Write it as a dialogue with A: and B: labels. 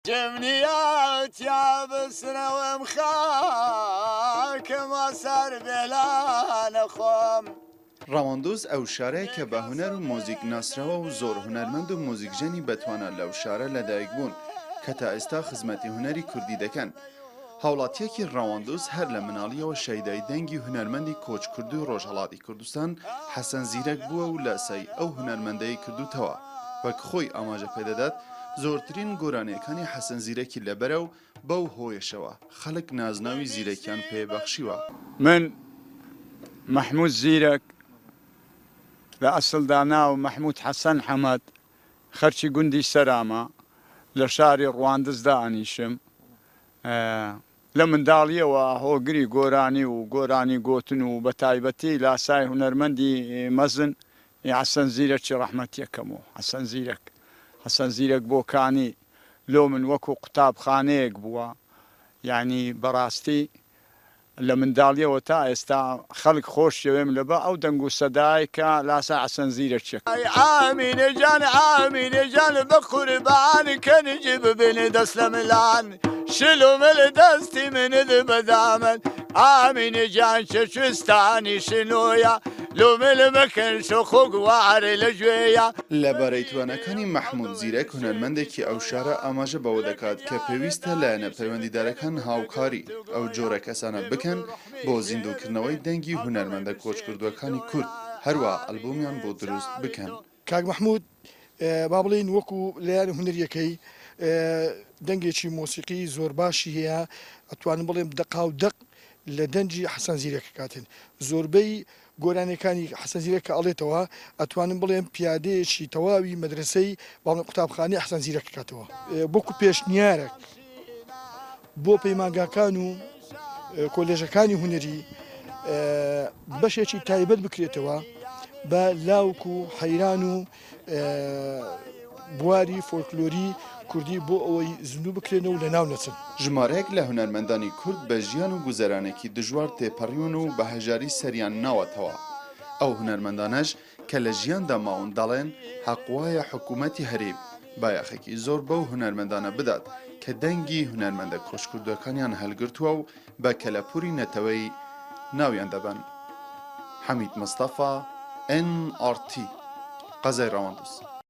A: دمنیا تیا بسرەوەم خاکم ئاسار بێلانە خۆم. ڕەواندوز
B: ئەو شارەیە کە بە هونەر و مۆزیک ناسراوە و زۆر هونەرمەند و مۆزیکژەنی بەتوانا لەو شارە لەدایک بوون کە تا ئێستا خزمەتی هونەری کوردی دەکەن. هاوڵاتییەکی ڕەواندز هەر لە مناڵییەوە شەیدای دەنگی هونەرمەندی کۆچکردووی ڕۆژهەڵاتی کوردستان حەسەن زیرەک بووە و لە سای ئەو هونەرمەندەی کردووتەوە. وەک خۆی ئاماژە پێ دەدات، زۆرترین گۆرانییەکانی حەسەن زیرەکی لەبەرە و بەو هۆیەشەوە خەڵک نازناوی زیرەکیان پێ بەخشیوە. من،
C: مەحموود زیرەک، لە ئەسڵدا ناوم مەحموود حەسەن حەمەد، خەرکی گوندی سەرامە لە شاری ڕواندز دائەنیشم. لە منداڵییەوە هۆگری گۆرانی و گۆرانی گۆتن و بە تایبەتی لاسای هونەرمەندی مەزن ی حەسەن زیرەکی ڕەحمەتییەکەم و حەسەن زیرەک، حەسەن زیرەک بۆکانی، لۆ من وەکوو قوتابخانەیەک بووە. یانی بەڕاستی لە منداڵیەوە تا ئێستا خەلک خۆشیەوێم لە بە ئەو دەنگ و سەدای کە لاسا حەسەن زیرەکیەکە. ئای ئامینە
A: جان ئامینە جان بەقوربان کەنج ببن دەسلەملان شلو مل دەستی منت بەدامن ئامینە جان چەچوستانی شنۆیا لو مل مەکەن شو خوک وار لەگوێیا. لە بارەی تواناکانی
B: مەحمود زیرەک هونەرمەندێکی ئەو شارە ئاماژە بەوە دەکات کە پێویستە لایەنە پەیوەندیدارەکان هاوکاری. ئەو جۆرە کەسانە بکەن بۆ زیندووکردنەوەی دەنگی هونەرمەندە کۆچکردووەکانی کورد، هەروا ئەلبومیان بۆ دروست بکەن. کاک مەحمود
D: با بڵێین وەکو لەیان هونەریەکەی دەنگێکی مۆسیقی زۆر باشی هەیە ئەتوانم بڵێم دەقاو دەق لە دەنگی حەسەن زیرەک کاتن زۆربەی گۆرانیەکانی حەسەن زیرەک کە ئەڵێتەوە ئەتوانم بڵێم پیادەیەکی تەواوی مەدرەسەی بەڵێ قوتابخانەی حەسەن زیرەک کاتەوە وەکو پێشنیارەک بۆ پەیمانگاکان و کۆلێژەکانی هونەری بەشێکی تایبەت بکرێتەوە بە لاوک و حەیران و بواری فۆلکلۆری کوردی بۆ ئەوەی زیندوو بکرێنەوە و لەناو نەچن. ژمارەیەک لە
B: هونەرمەندانی کورد بە ژیان و گوزەرانێکی دژوار تێپەڕیون و بە هەژاری سەریان ناوەتەوە. ئەو هونەرمەندانەش کە لە ژیاندا ماون دەڵێن، حەق وایە حکوومەتی هەریم بایەخێکی زۆر بەو هونەرمەندانە بدات کە دەنگی هونەرمەندە کۆچکردووەکانیان هەلگرتووە و بە کەلەپوری نەتەوەیی ناویان دەبەن حەمید مستەفا، ئێن ئاڕ تی، قەزای ڕەواندز.